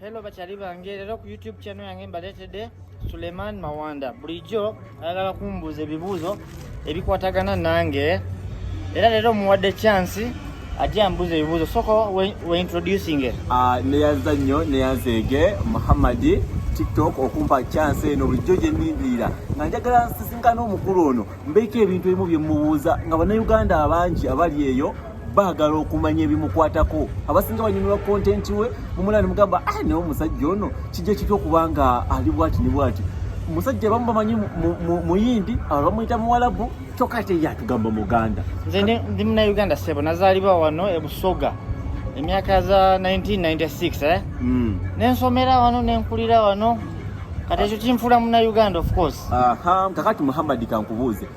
Hello bakyali bange, leero ku YouTube channel yange mbaleetedde Suleiman Mawanda. Bulijjo ayagala kumbuuza ebibuuzo ebikwatagana nange era leero muwadde chance ajja ambuuza ebibuuzo soko we introducing it. Uh, neyanza nnyo neyanzeege Muhammadi tiktok okumpa chance eno bulijjo gyennindirira nga njagala nsisinkana omukulu ono mbeeko ebintu ebimu bye mubuuza nga bannayuganda abangi abali eyo baagala okumanya ebimukwatako abasinga banyumirwa kontenti we mumula ne mugamba ah, naye omusajja ono kijja kitya okuba nga ali bwati ne bwati musajja bamu bamanyi muyindi abamuyita muwalabu kyokka ate ye atugamba muganda nze ndi munauganda sebo nazaalibwa wano ebusoga emyaka za 1996 eh? mm. nensomera wano nenkulira wano kati ekyo kinfuula munauganda of course kakati muhammadi kankubuuze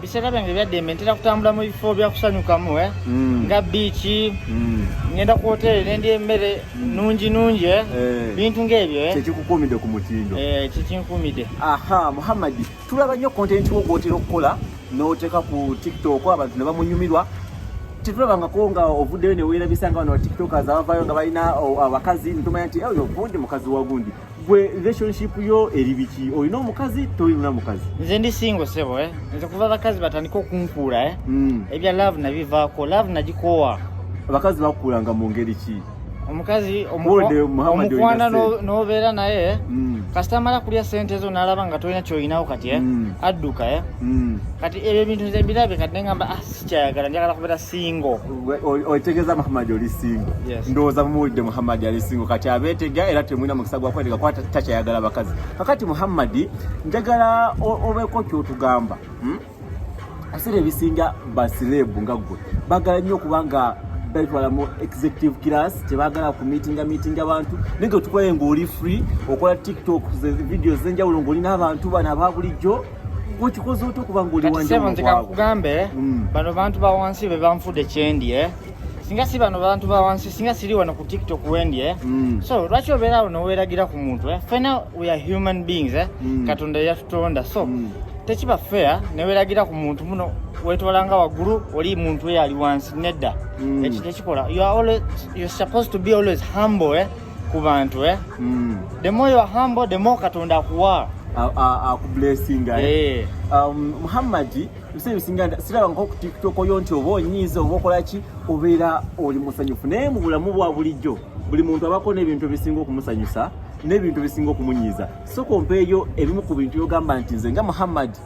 biseera byange byaddembe ntera kutambula mu bifo byakusanyukamu eh? mm. nga biiki mm. ngenda ku hoteeri nendi emmere mm. nungi nungi eh? eh. bintu ngaebyo eh? kyekikukuumidde ku mutindo eh, kyekinkuumidde aha muhammadi tulaba nnyo kontenti wo gwotera okukola n'oteeka ku tiktok abantu ne bamunyumirwa tetulabangako nga ovuddeyo neweerabisa nga bano batiktokas abavaayo nga balina abakazi nitumanya nti oyo gundi mukazi wa gundi gwe relationship yo eri biki olina omukazi tolina mukazi nze ndi singo sebo eh? nze kuva abakazi batandika okunkuula eh? mm. ebya love nabivaako love nagikoowa abakazi bakuulanga mu ngeri ki omukazi omukwana nobeera naye eh? mm. kasita amala kulya sente zo nalaba nga tolina kyoyinawo kati eh? mm. adduka eh? mm. kati ebyo ebintu nze mbirabe kati nengamba ah, sikyayagala njagala kubeera singo otegeza muhammad oli singo ndowooza mumuwulidde muhammad ali singo kati abeetega era temulina mukisa gwakwetega kuba takyayagala bakazi kakati muhammadi njagala obeeko kyotugamba hmm? asira ebisinga basireebu nga ggwe bagala nnyo okuba nga betwala mu executive class tebagala ku meetinga meetinga abantu naye nga otukoye ngaoli free okola tiktok video zenjawulo ngaoli n'abantu bana ababulijjo okikoze otya okuba ngaoli wanjsebo nze kakugambe mm. bano bantu ba wansi be banfude kyendi e eh? singa si bano bantu ba wansi singa siri wano ku tiktok wendi e eh? mm. so lwaki obeera awo noweragira ku muntu e fena we are human beings e mm. katonda yatutonda so tekiba fair neweragira ku muntu muno wetwalanga waggulu oli muntu eyo ali wansi nedda ekyo tekikola you are always, you're supposed to be always humble eh? ku bantu eh? mm. the more you are humble the more katonda akuwa akublessinga eh? eh. um, muhammadi ebiseera bisinga siraba nko ku tiktok oyo nti oba onyiiza oba okolaki obeera oli musanyufu naye mu bulamu bwa bulijjo buli muntu abako n'ebintu ebisinga okumusanyusa n'ebintu ebisinga okumunyiiza sokompeeyo ebimu ku bintu byogamba nti nze nga muhammadi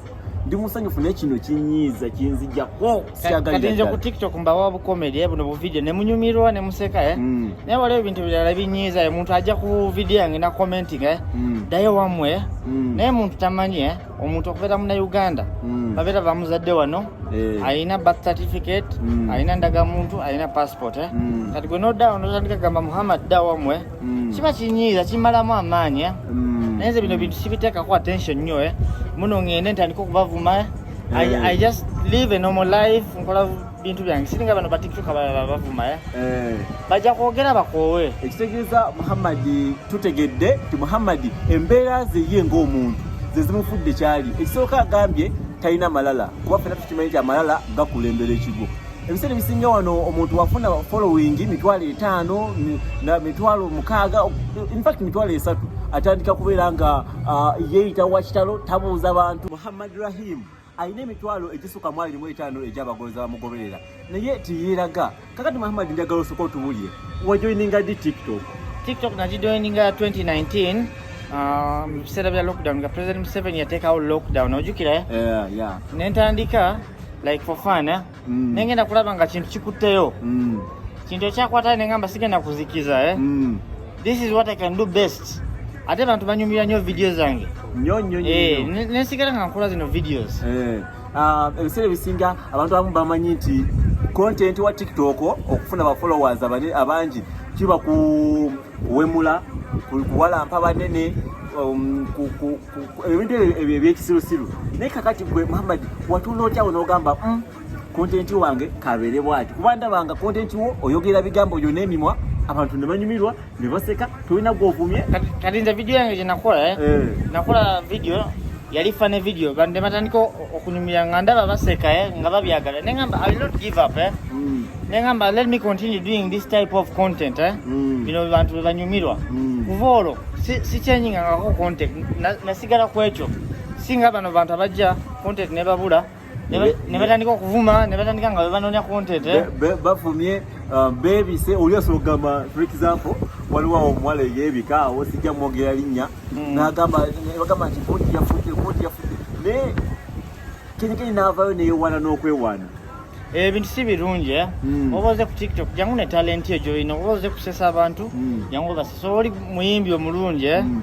ndi musanyufu naye kino kinyiiza kinzijako katinze ku tiktok mbawa bukomedi eh, buno buvidiyo ne munyumirwa ne museka eh? mm. naye waliwo ebintu birala binyiiza eh, omuntu ajja ku vidiyo yange na commenting eh? mm. dayo wamwe eh? mm. naye muntu tamanyi eh? omuntu okubeera muna uganda mm. babeera bamuzadde wano eh. alina birth certificate mm. alina ndagamuntu alina passport eh? mm. kati gwe nodawo notandika gamba muhammad da wamwe eh? mm. kiba kinyiiza kimalamu amaanyi eh? mm. naye nze bino bintu sibiteekako attention nnyo eh? muno ngende ntandika okubavuma eh? I, I just live a normal life nkola bintu byange siringa bano batiktok abalala bavuma eh? eh. bajja kwogera bakoowe ekitegeeza muhammadi tutegedde nti muhammadi embeera ze ye ng'omuntu ze zimufudde kyali ekisooka agambye talina malala kuba fena tukimanyi nti amalala gakulembera ekigo ebiseera ebisinga wano omuntu wafuna following mitwalo etaano mitwalo mukaaga infact mitwalo esatu atandika kubeera nga uh, yeeyita wakitalo tabuuza bantu muhammad rahim alina emitwalo egisuka mu abiri mu etaano egyabagonza bamugoberera naye tiyeeraga kakati muhammad njagala osoka otubulire wajoininga di tiktok tiktok nagijoininga 2019 mu biseera bya lockdown nga president museveni yateekawo lockdown ojukira nentandika like for fun eh? mm. nengenda kulaba nga kintu kikutteyo mm. kintu ekyakwata nengamba sigenda kuzikiza eh? mm. this is what i can do best ate abantu banyumira nyo video zange eh, nesigala nga nkola zino videos eh, ah, ebiseera ebisinga abantu abamu bamanyi nti content wa tiktok okufuna ba followers abangi kiba ku kuwemula kuwalampa banene um, ebintu ebyo ebyekisirusiru naye kakati gwe muhammad watunda otya wo n'ogamba mm, kontenti wange kabeere bwati kuba ndabanga kontenti wo oyogera bigambo byo n'emimwa abantu ne banyumirwa ne baseka tolina gwovumye kati nze vidiyo yange gyenakola eh? eh. nakola vidiyo yali fane vidiyo bande batandika okunyumira nga ndaba baseka eh, nga babyagala ne ngamba i not give up eh? mm. nengamba let me continue doing this type of content eh? mm. bino bantu bebanyumirwa mm. kuva olwo sikyanyingangako si content nasigala na kwekyo singa bano bantu abajja content nebabula nebatandika okuvuma nebatandika nga bebanonya content eh? bavumye uh, bebise oli asobola okugamba for example waliwo awo omuwala eyebika awo sijja mwogera linnya mm. nagamba bagamba nti koti yafudde koti yafudde naye kenyekeni navayo neyewaana n'okwewaana Eh, ebintu si birungi eh? mm. oba oze ku tiktok jangu ne talenti ejo ino oba oze kusesa abantu mm. jangu basesa oli muyimbi omulungi eh? mm.